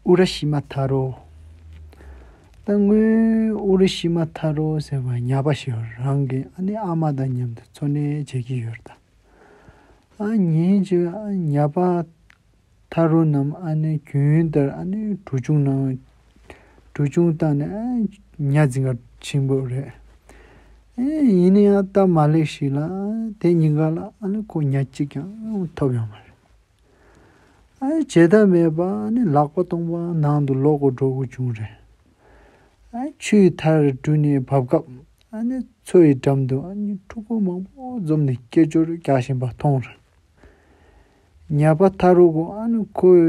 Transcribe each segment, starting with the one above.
ཨུ་ར་ཤི་མ་ཐ་རོ། ད་སྔོན་ཨུ་ར་ཤི་མ་ཐ་རོ་ཟེར་བ་ཉག་པ་ཞིག་རང་གི་ཨ་ནེ་ཨ་མ་དང་མཉམ་དུ་འཚོ་གནས་བྱེད་ཀྱི་ཡོད། ད་ཉིན་གྱི་ཉག་པ་ཐ་རོ་རྣམས་ཨ་ནེ་གྱོན་ལྟར་ཨ་ནེ་གྲུ་ཆུང་ནང་གྲུ་ཆུང་བཏང་ནས་ཉྭ་རྫིང་ག་ཆེན་པོ་རེད། ཡིན་ན་ཡང་སྟབས་མ་ལེགས་ཤིག་ལ་དེ་གཉིས་ཀ་ལ་ཨ་ནེ་ཁོ་ཉག་གཅིག་ཀྱང་ཐོབ་ཡོང་མ་རེད། བྱེད་ཐབས་མེད་པ་ནི་ལག་པ་སྟོང་པ་ནང་དུ་ལོག་གོ་འགྲོ་གོ་བྱུང་རེད། ཆུའི་མཐར་གྲུ་ནས་བབས་སྐབས་མཚོ་ཡི་འགྲམ་དུ་ཕྲུ་གུ་མང་པོ་འཛོམས་ནས་སྐད་ཅོར་རྒྱག་བཞིན་པ་མཐོང་རེད། ཉལ་པ་མཐའ་རུ་ཁོས་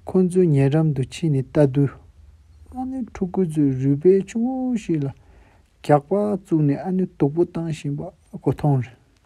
ཁོ་ཚོའི་ཉེ་འགྲམ་དུ་ཕྱིན་ནས་ལྟ་དུས། ཕྲུ་གུ་ཚོས་རུས་པའི་ཆུང་ངུ་ཞིག་ལ་རྒྱགས་པ་བཙུགས་ནས་སྡུག་པོ་བཏང་བཞིན་པ་ཁོ་མཐོང་རེད།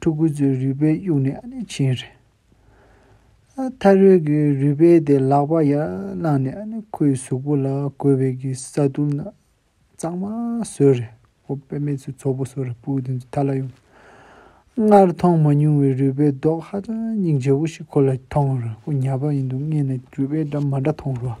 ཕྲུ་གུ་ཚོའི་རུས་པའི་དབྱུག་ནས་བྱིན། ཐར་རོལ་གྱི་རུས་པའི་དེ་ལག་པ་ཡར་བླངས་ནས་ཁོའི་གཟུགས་པོ་ལ་གོས་བེད་ཀྱི་ས་དུམ་གཙང་མ་བཟོས་རེ་ཁོ་དཔེ་མེད་ཚོའི་ཚོགས་པོ་སོ་རེ་སྤུ་དེ་ཚོའི་མཐའ་ལ་ཡོང། སྔར་མཐོང་མ་མྱོང་བའི་རུས་པའི་རྡོག་ཧ་ཅང་སྙིང་རྗེ་བོ་ཞིག་ཁོ་ལ་མཐོང། ཁོ་ཉལ་བ་ཡིན་འདུག་སྔས་ནས་རུས་པའི་སྒྲ་མ་འདྲ་མཐོང་རུང།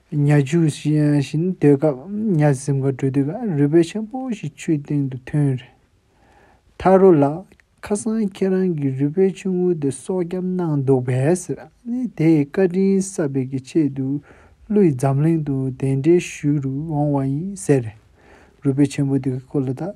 གཉའ་ཆུ་བཞིན་བརྡོལ་སྐབས་གཉའ་གཟིམ་ག་དྲོད་དུས་ཀྱང་རུས་སྦལ་ཆེན་པོ་ཞིག་ཆུའི་སྟེང་དུ་ཐོན། ཐར་རོ་ལགས། ཁ་སང་ཁྱེད་རང་གིས་རུས་སྦལ་ཆུང་ངུ་དེ་སྲོག་སྐྱབས་གནང་འདུག་པས། དེའི་བཀའ་དྲིན་གསབ་པའི་གི་ཆེད་དུ་ཀླུའི་འཛམ་གླིང་དུ་གདན་འདྲེན་ཞུ་རུ་འོང་བ་ཡིན་ཟེར། རུས་སྦལ་ཆེན་པོ་དེ་གི་སྐོར་ལ་ད།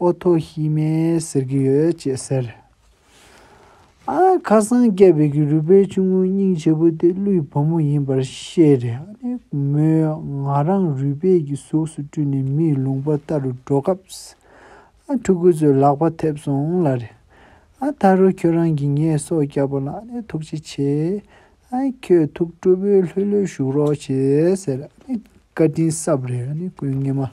ཨོ་ཐོ་ཤི་མས་ཟེར་གྱི་ཡོད་ཅེས་ཟེར། ཨ་ཁ་སང་སྐྱེས་པའི་གི་རུས་པའི་ཆུང་ངུའི་སྙིང་ཆེ་པོ་དེ་ཀླུའི་བུ་མོ་ཡིན་པར་བཤད། མོས་ང་རང་རུས་པས་གི་གཟུགས་སུ་སྤྲུལ་ནས་མིའི་ལུང་པ་ལྟ་རུ་འགྲོ་སྐབས། ཕྲུ་གུ་ཚོས་ལག་པ་ཐེབས་སོང་ལ། ད་རུང་ཁྱོད་རང་གིས་ངའི་སྲོག་བསྐྱབས་པ་ལ་ཐུགས་རྗེ་ཆེ། ཁྱོད་ཐུགས་སྤྲོ་བོས་ལྷོད་ལྷོད་བཞུགས་རོགས་ཞེས་ཟེར། བཀའ་དྲིན་གསབ་རེ་སྐུ་ངལ་མ།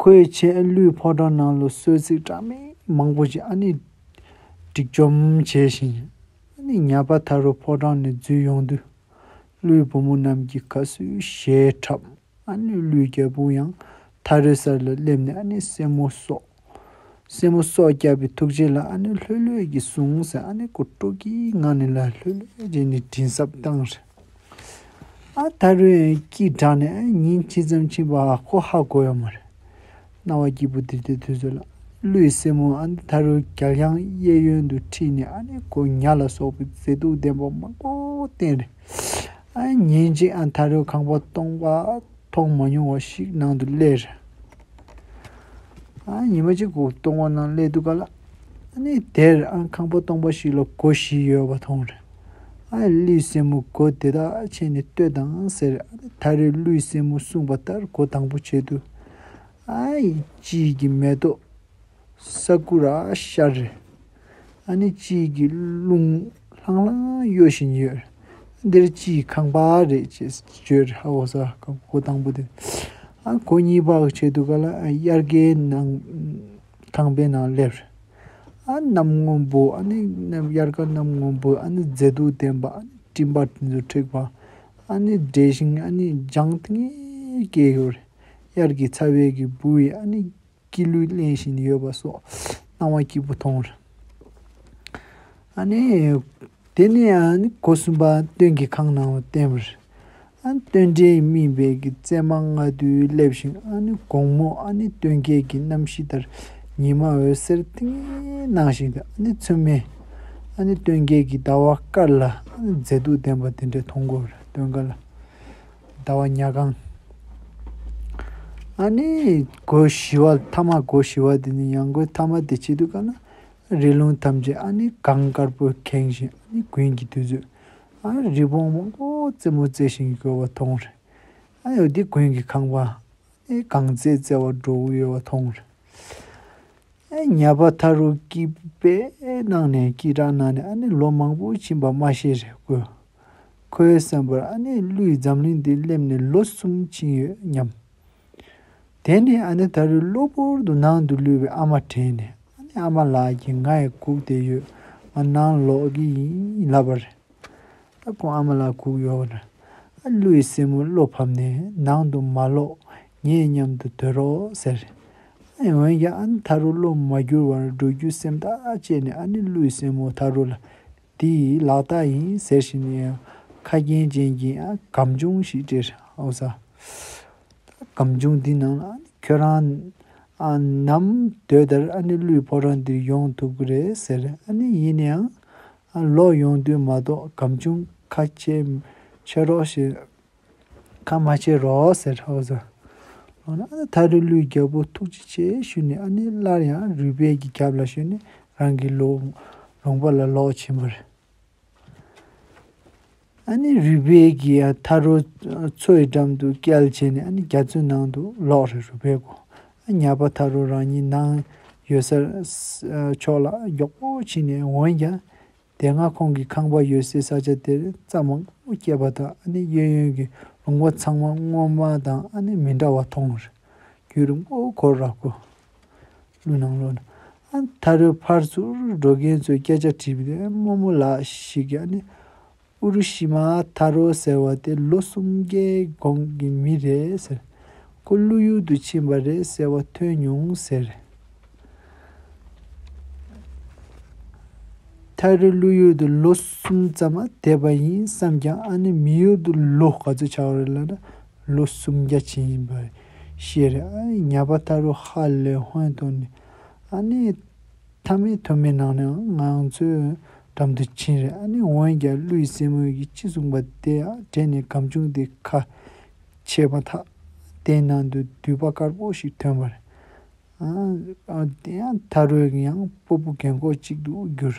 ཁོའི་ཆེད་ལུས་ཕོ་བྲང་ནང་ལོ་གསོལ་ཚིགས་གྲངས་མེད་མང་པོ་ཞིག་སྒྲིག་བཅོམ་བྱས་ཤིང། ཉལ་པ་ཐར་རུ་ཕོ་བྲང་ནས་འཛུལ་ཡོང་དུས། ཀླུའི་བུ་མོ་རྣམས་ཀྱིས་ཁ་སུས་ཞེས་འཁྲབ། ཀླུའི་རྒྱལ་པོ་ཡང་ཐར་རུའི་སར་ལ་སླེབས་ནས་སྲས་མོ་སོགས་སྲས་མོ་སྲོག་སྐྱབས་པའི་ཐུགས་རྗེ་ལ་ཨ་ནུ་ལྷོད་ལྷོད་ཀྱིས་ཟུངས་ཟེར་ཨ་ནེ་ཀོ་ཀྲོ་ཀིའི་ངག་ནས་ལ་ལྷོད་ལྷོད་བྱས་ནས་དྲིན་གསབ་བཏང། ཨ་ད་རོས་ཀྱིས་བྲག་ནས་ཉིན་ཇི་ཙམ་ཕྱིན་པ་ཁོ་ཧ་གོ་ཡོད་མ་རེད། སྣང་བ་སྐྱིད་པོ་དེ་དེ་དུས་སུ་ལ་ཀླུའི་སྲས་མོ་ཨ་ད་རོས་རྒྱ་ལྷང་གཡས་གཡོན་དུ་ཁྲིད་ནས་ཨ་ནེ་ཀོ་ཉག་ལ་སོགས་པའི་མཛེས་སྡུག་ལྡན་པ་མང་པོ་བསྟན། ཉིན་གཅིག་ཨ་ད་རོས་ཁང་པ་སྟོང་པ་མཐོང་མ་མྱོང་བ་ཞིག་ནང་དུ་སླེབས། ཨ་ཉི་མ་གཅིག་གོ་སྟོང་བ་ནང་སླེབས་འདུག་ག་ལ། ཨ་ནི་དེར་ཨ་ཁང་པ་སྟོང་པ་ཞིག་ལ་གོ་བཞི་ཡོད་པ་མཐོང། ཨ་ཡི་གླུའི་སྲས་མོ་གོ་དེ་དག་ཕྱེས་ནས་ལྟོས་དང་ཟེར། ཨ་ནི་ད་རེས་གླུའི་སྲས་མོ་གསུངས་པ་ལྟར་གོ་དང་པོ་བྱས་འདུག་ཨ་ཡི་དཔྱིད་ཀྱི་མེ་ཏོག། Sakura Cherry། ཨ་ནི་དཔྱིད་ཀྱི་རླུང་ལྷང་ལྷང་གཡོ་བཞིན་ཡོད། འདིར་དཔྱིད་ཀྱི་ཁང་པ་རེད་ཅེས་བརྗོད། ཁོ་དང་པོ་དེ། ཁོ་གཉིས་བག་ཕྱེ་འདུག་ག་ལ་དབྱར་ཀའི་ནང་ཁང་པའི་ནང་སླེབས། གནམ་སྔོན་པོ་ཨ་ནི་དབྱར་ཀ་གནམ་སྔོན་པོ་ཨ་ནི་མཛེས་སྡུག་ལྡན་པ་ཨ་ནི་སྤྲིན་པ་དེ་ཚོ་འཁྲིགས་པ་ཨ་ནི་བྲེལ་ཞིང་ཨ་ནི་ལྗང་ཐིང་ངེར་སྐྱེས་ཡོད། དབྱར་གྱི་ཚ་བའི་གི་འབུ་ཡིས་ཨ་ནི། སྐྱིད་ལུས་གླེང་བཞིན་ཡོད་པ་སོགས་སྣང་བ་སྐྱིད་པོ་མཐོང། ཨ་ནི། དེ་ནས་གོ་གསུམ་པ་སྟོན་གྱི་ཁང་ནང་བསྟན། སྟོན་འབྲས་སྨིན་པའི་བརྩེགས་མ་ལྔ་བདོའི་སླེབས་ཤིང་དགོང་མོ་སྟོན་ཁའི་གནམ་གཤིས་ལྟར་ཉི་མ་འོད་ཟེར་ཏིང་ངེ་ནང་བཞིན་དུ་མཚོན་མེད་སྟོན་ཁའི་ཟླ་བ་དཀར་ལ་མཛེས་སྡུག་ལྡན་པ་དེ་འདྲ་མཐོང། སྟོན་ཁ་ལ། ཟླ་བ་ཉག་གང། ཨ་ནི། སྒོ་བཞི་བ་ཐ་མ་སྒོ་བཞི་བ་དེ་ནི་ཡང་སྒོའི་ཐ་མ་དེ་བྱེད་དུས་ཀ་ན་རི་ལུང་ཐམས་ཅད་ཨ་ནི་གངས་དཀར་པོས་ཁེངས་བཞིན་ཨ་ནི་དགུན་གྱི་དུས་ཚོད་ཨ་རི་བོང་མང་པོ་རྩེད་མོ་རྩེ་བཞིན་ཡོད་པ་མཐོང་རེད། ཨ་ཡོད་དེ་དགུན་གྱི་ཁང་པ་ཨ་གང་བཙལ་བཙལ་བར་འགྲོ་འོས་པ་མཐོང། ཉལ་པ་ཐ་རུ་སྐྱིད་པའི་སྣང་ནས་སྐྱིད་དྲག་སྣང་ནས་ཨ་ནི་ལོ་མང་པོ་ཕྱིན་པ་མ་ཤེས་རེད་ཀོ། ཁོའི་བསམ་པར་ཨ་ནི་ཀླུས་འཛམ་གླིང་འདི་སླེབས་ནས་ལོ་གསུམ་ཕྱིན་ཡོད་སྙམ། དེ་ནས་ཨ་ནི་ད་རུ་གློ་བུར་དུ་ནང་དུ་ལུས་པའི་ཨ་མ་དྲན་ནས་ཨ་ནི་ཨ་མ་ལགས་ཀྱིས་ང་ཡི་གུག་དེ་ཡོད་ང་ནང་ལོག་གི་ཡིན་ལབ་པ་རེད། ཨ་ཁུ་ཨ་མ་ལ་སྒུག་ཡོད་རེད། ཨ་ཀླུ་ཡི་སྲས་མོ་བློ་ཕམ་ནས་ནང་དུ་མ་ལོག་ངས་མཉམ་དུ་སྡོད་རོགས་ཟེར། ཨེ་འོན་ཀྱང་ཨ་ནི་ཐ་རུ་བློ་མ་བསྒྱུར་བར་འགྲོ་རྒྱུའི་སེམས་ཐག་བཅད་ནས་ཨ་ནི་ཀླུ་ཡི་སྲས་མོ་ཐ་རུ་ལ་འདི་ཡི་ལག་རྟགས་ཡིན་ཟེར་བཞིན་ཡང་ཁ་རྒྱན་ཅན་གྱི་ཨ་སྒམ་ཆུང་ཞིག་སྤྲད། ཨོ་ཟ། ཨ་སྒམ་ཆུང་འདི་ནང་ལ་ཨ་ནི་ཁྱོད་རང་ནམ་སྡོད་དེར་ཨ་ནི་ཀླུའི་ཕོ་བྲང་འདིར་ཡོང་ཐུབ་ཀི་རེད་ཟེར། ཨ་ནི་ཡིན་ནའང་ལོག་ཡོང་དུས་མ་གཏོགས་གམ་ཆུང་ཁ་ཆེ་ཕྱེ་རོགས་ཞེས་ཁ་མ་ཕྱེ་རོགས་ཟེར་ཧོ་ཟེར། ལོག་ན་ཨ་ཐ་རི་ལུའི་རྒྱལ་པོ་ཐུགས་རྗེ་ཆེ་ཞུས་ནས་ཨ་ནེ་སླར་ཡང་རུས་སྦལ་གྱི་རྒྱབ་ལ་ཞོན་ནས་རང་གི་ལུང་པ་ལ་ལོག་ཕྱིན་པ་རེད། ཨཱ་ནི་རུས་སྦལ་གྱི་ཐ་རུ་མཚོའི་འགྲམ་དུ་བསྐྱལ་བྱས་ནས་ཨཱ་ནི་རྒྱ་མཚོའི་ནང་དུ་ལོག་རེ་རུས་སྦལ་གོ་ཉག་པ་ཐ་རུ་རང་ཉིད་ནང་ཡོད་སར་ཕྱོགས་ལ་མགྱོགས་པོ་ཕྱིན་ནས་འོན་ཀྱང་དེ་སྔ་ཁོང་གི་ཁང་པ་ཡོད་སའི་ས་ཆ་དེར་རྩྭ་མང་པོ་སྐྱེས་པ་དང་ཨཱ་ནི་གཡས་གཡོན་གྱི་ལུང་པ་ཚང་མ་སྔོན་མ་དང་ཨཱ་ནི་མི་འདྲ་བ་མཐོང་རུས་རྒྱུད་རིང་པོ་གོ་ར་གོ། ཀླུ་ནང་ལོག་ནས་ད་རེའི་ཕར་ཚུར་འགྲོ་མཁན་ཚོས་སྐད་ཆ་དྲིས་པ་དེ་རྨོ་མོ་ལགས་ཤིག་ཀྱང་ནི་ཨུ་རུ་ཤི་མ་ཐ་རོ་ཟེར་བ་དེ་ལོ་གསུམ་བརྒྱའི་གོང་གི་མི་རེད་ཟེར། ཁོ་ཀླུ་ཡུལ་དུ་ཕྱིན་པ་རེད་ཟེར་བ་ཐོས་མྱོང་ཟེར། ད་རེ་ཀླུ་ཡུལ་དུ་ལོ་གསུམ་ཙམ་བསྡད་པ་ཡིན་བསམས་ཀྱང་ཨ་ནི་མི་ཡུལ་དུ་ལོ་ག་ཚོད་ཆགས་རེད་ལབ་ན་ལོ་གསུམ་བརྒྱ་ཕྱིན་ཡིན་པ་རེད། ཤེར་ཉཱ་པ་ཏཱ་རུ་ཧ་ལས་སྔོན་དུ་ནི་ཨ་ནི་ཐ་མའི་ཐུར་མའི་ནང་ནས་ང་ཚོའི་འགྲམ་དུ་ཕྱིན་རེ་ཨ་ནི་འོན་ཀྱང་ཀླུའི་སྲས་མོ་ཡིས་ཅི་གསུངས་པ་དེ་དྲན་ནས་གམ་ཆུང་དེ་ཁ་ཕྱེས་པ་ཐག་དེའི་ནང་དུ་དུད་པ་དཀར་པོ་ཞིག་ཐོན་པར། ཨ་ནི་ཏཱ་རུས་ཡང་སྤོ་པོ་རྒན་གོག་ཅིག་ཏུ་གྱུར།